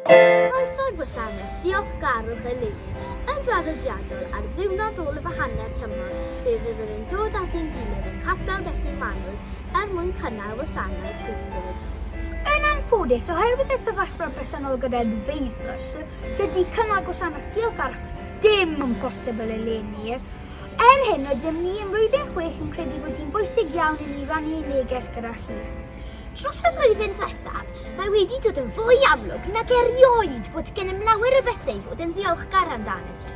Croeso i'r gwasanaeth diolchgarwch eleni. Yn draddodiadol, ar ddiwrnod ôl y Fahanau'r tymor, fe fyddwn yn dod at ein gilydd yng Nghapel Gellyn Manws er mwyn cynnal wasanaeth pwysig. Yn anffodus, oherwydd y sefyllfa bresennol gyda'r feirws, dydy cynnal gwasanaeth diolchgarwch ddim yn bosibl eleni, Er hyn, rydym ni ym Mlwyddyn Chwech yn credu bod hi'n bwysig iawn i ni rannu ein neges gyda chi. Dros y flwyddyn ddiwethaf, mae wedi dod yn fwy amlwg nag erioed bod gennym lawer o bethau i fod yn ddiolchgar amdanynt.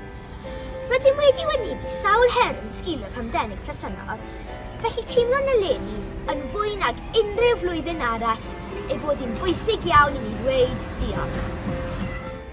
Rydym wedi wynebu sawl her yn sgil y pandemig presennol, felly teimlwn eleni, yn fwy nag unrhyw flwyddyn arall, ei bod hi'n bwysig iawn i ni ddweud diolch.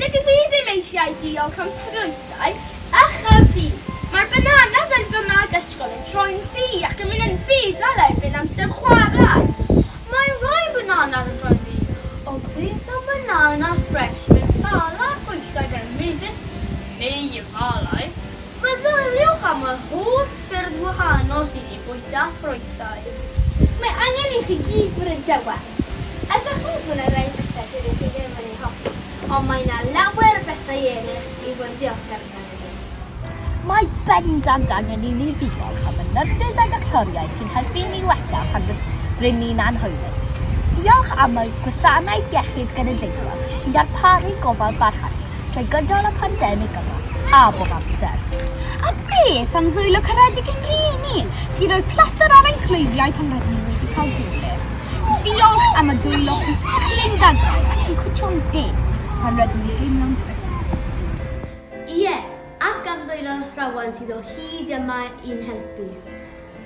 Dydw i ddim eisiau diolch am ffrwythau a chyffi. Mae'r bananas yn fy mag ysgol yn troi'n ddu ac yn mynd yn ddu fel erbyn amser chwarae. Mae rhai bananas yn troi'n ddu o gwyrdd a banana ffres mewn salad bwyta gan Mavis neu efallai meddyliwch am yr holl ffyrdd wahanol sydd i fwyta ffrwythau. Mae angen i chi gyd fod yn dawel. Ydach chi'n gwybod y rhai pethau dydych chi ddim yn eu hoffi, ond mae yna lawer o bethau eraill i fod yn ddiolchgar amdanyn nhw. Mae bendant angen i ni ddiolch am y nyrsys a doctoriaid sy'n helpu ni wella pan rŷn ni'n anhwylus. Diolch am y Gwasanaeth Iechyd Genedlaethol sy'n darparu gofal barhaus trwy gydol y pandemig yma, a bob amser. A beth am ddwylo caredig i'n rhieni, sy'n rhoi plastr ar ein clwyfau pan rydyn ni wedi cael dŵr? Diolch am y dwylo sy'n sgrin dadau ac yn cwtshio'n deg pan rydyn ni'n teimlo'n trist. Ie, ac am ddwylo'r athrawon sydd o hyd yma i'n helpu.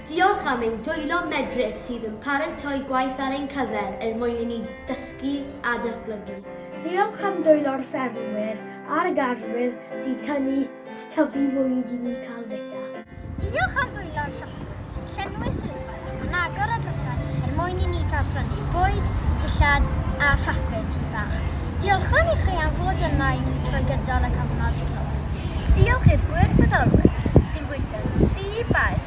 Diolch am ein dwylo medrus sydd yn paratoi gwaith ar ein cyfer er mwyn i ni dysgu a datblygu. Diolch am dwylo'r ffermwyr a'r garddwyr sy'n tynnu Tyfu fwyd i ni cael feta. Diolch am ddwylo'r siopwyr sy'n llenwi sylfaen ac yn agor y drysau er mwyn i ni gael prynu bwyd, dillad a phapur tŷ bach. Diolchwn i chi am fod yna i ni trwy gydol y cyfnod clo. Diolch i'r gwirfoddolwyr sy'n gweithio yn rhy faer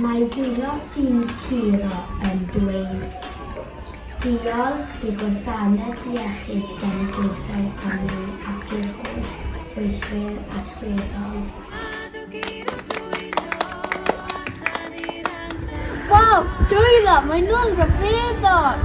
Mae dwylo sy'n curo yn dweud diolch i Gwasanaeth Iechyd Genedlaethol Cymru ac i'r holl weithwyr allweddol. Waw! Dwylo! Mae nhw'n ryfeddol!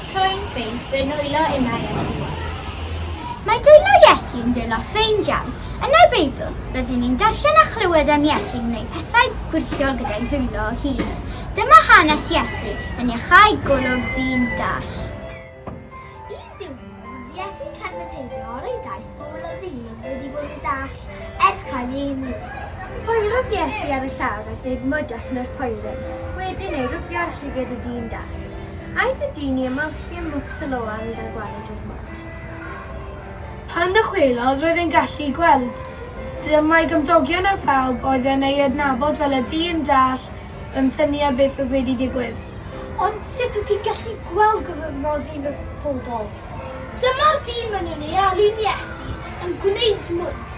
Troi'n ffeind, fe nwylo innau at y Maes. Mae dwylo Iesu yn dwylo ffeind iawn. Yn y Beibl, rydyn ni'n darllen a chlywed am Iesu'n gwneud pethau gwyrthiol gyda'i ddwylo o hyd. Dyma hanes Iesu yn iachau golwg dyn dall. Un diwrnod, roedd Iesu'n cerdded teithio ar ei daith Sawl o hyn oedd wedi bod yn dall ers cael ei eni? Poerodd Iesu ar y llawr a gwneud mwd allan o'r poeren, wedyn ei rwfio ar llygad y dyn dall. Aeth y dyn i ymolchi ym Mwg Siloam i gael gwared i'r mwd. Pan ddychwelodd roedd e'n gallu gweld. Dyma'i gymdogion a phawb oedd yn ei adnabod fel y dyn dall yn synnu ar beth oedd wedi digwydd. Ond sut wyt ti'n gallu gweld gofynnodd un o'r pobl. Dyma'r dyn mynnwn ei alw'n Iesu, yn gwneud dmwd.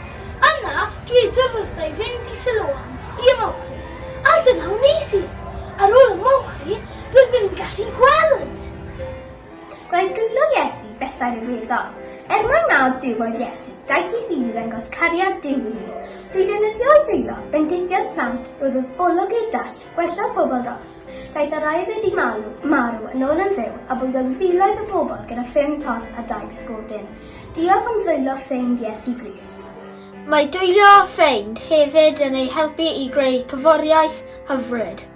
Yna dwedodd wrtho i fynd i Siloam i ymolchi, a dyna wnes i. Ar ôl ymolchi, roeddwn i'n gallu gweld! Gwnaeth dwylo Iesu bethau rhyfeddol. Er mai mab Duw oedd Iesu, daeth i fyw i ddangos cariad Duw i ni. Drwy ddefnyddio ei ddwylo, bendithiodd plant, rhoddodd olwg i'r dall, gwellaodd pobl dos, Daeth yr aeddfed i marw, marw yn ôl yn fyw, a bwydodd filoedd o bobl gyda ffyn torth a dau bysgodyn. Diolch am ddwyllo ffeind Iesu Grist. Mae dwyllo ffeind hefyd yn ei helpu i greu cyforiaeth hyfryd.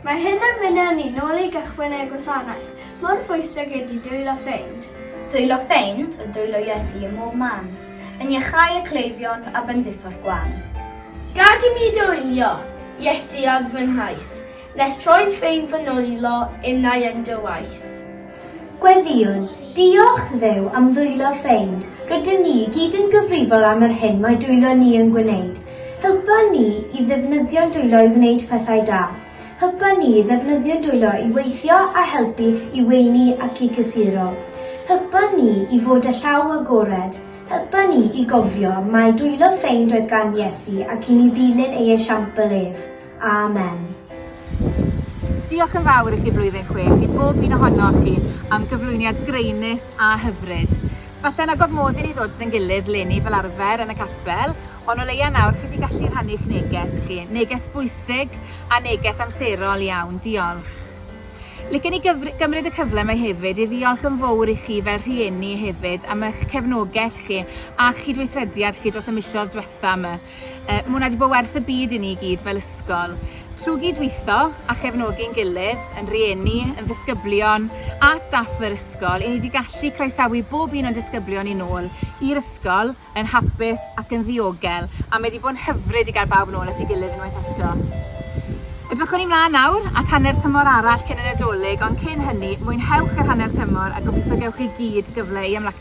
Mae hyn yn mynnu ni nôl i gychwyn ei gwasanaeth, mor bwysig ydi dwylo ffeind. Dwylo ffeind yw dwylo Iesu ym mhob man, yn iachau y cleifion a benditho'r gwan. Gad i mi dwylio Iesu ar fy nhaith, nes troi'n ffeind fy nwylo innau yn dy waith. Gweddïwn, Diolch, Dduw, am ddwylo ffeind. Rydym ni i gyd yn gyfrifol am yr hyn mae dwylo ni yn gwneud. Helpa ni i ddefnyddio'n dwylo i wneud pethau da. Helpa ni i ddefnyddio'n dwylo i weithio a helpu i weini ac i gysuro. Helpa ni i fod â llaw agored. Helpa ni i gofio mai dwylo ffeind oedd gan Iesu ac i ni ddilyn ei esiampl ef. Amen. Diolch yn fawr i chi Blwyddyn Chwech, i bob un ohonoch chi, am gyflwyniad graenus a hyfryd. Falle na gormodd i ni ddod at ein gilydd 'leni fel arfer yn y capel, ond o leia' nawr chi 'di gallu rhannu'ch neges chi, neges bwysig a neges amserol iawn. Diolch. Licen i gyfr- gymryd y cyfle 'ma hefyd i ddiolch yn fowr i chi fel rhieni hefyd am ych cefnogeth chi a'ch cydweithrediad chi dros y misoedd dwetha' 'ma. Mae hwnna wedi bod werth y byd i ni i gyd fel ysgol. Trwy gydweithio a chefnogi'n gilydd, yn rieni, yn ddisgyblion a staff yr ysgol, i ni wedi gallu croesawu bob un o'n disgyblion i nôl i'r ysgol yn hapus ac yn ddiogel, a mae wedi bod yn hyfryd i gael bawb nôl at ei gilydd unwaith eto. Edrychwn i mlaen nawr at hanner tymor arall cyn y Nadolig, ond cyn hynny, mwynhewch yr hanner tymor a gobeithio gewch chi gyd gyfle i ymlacio.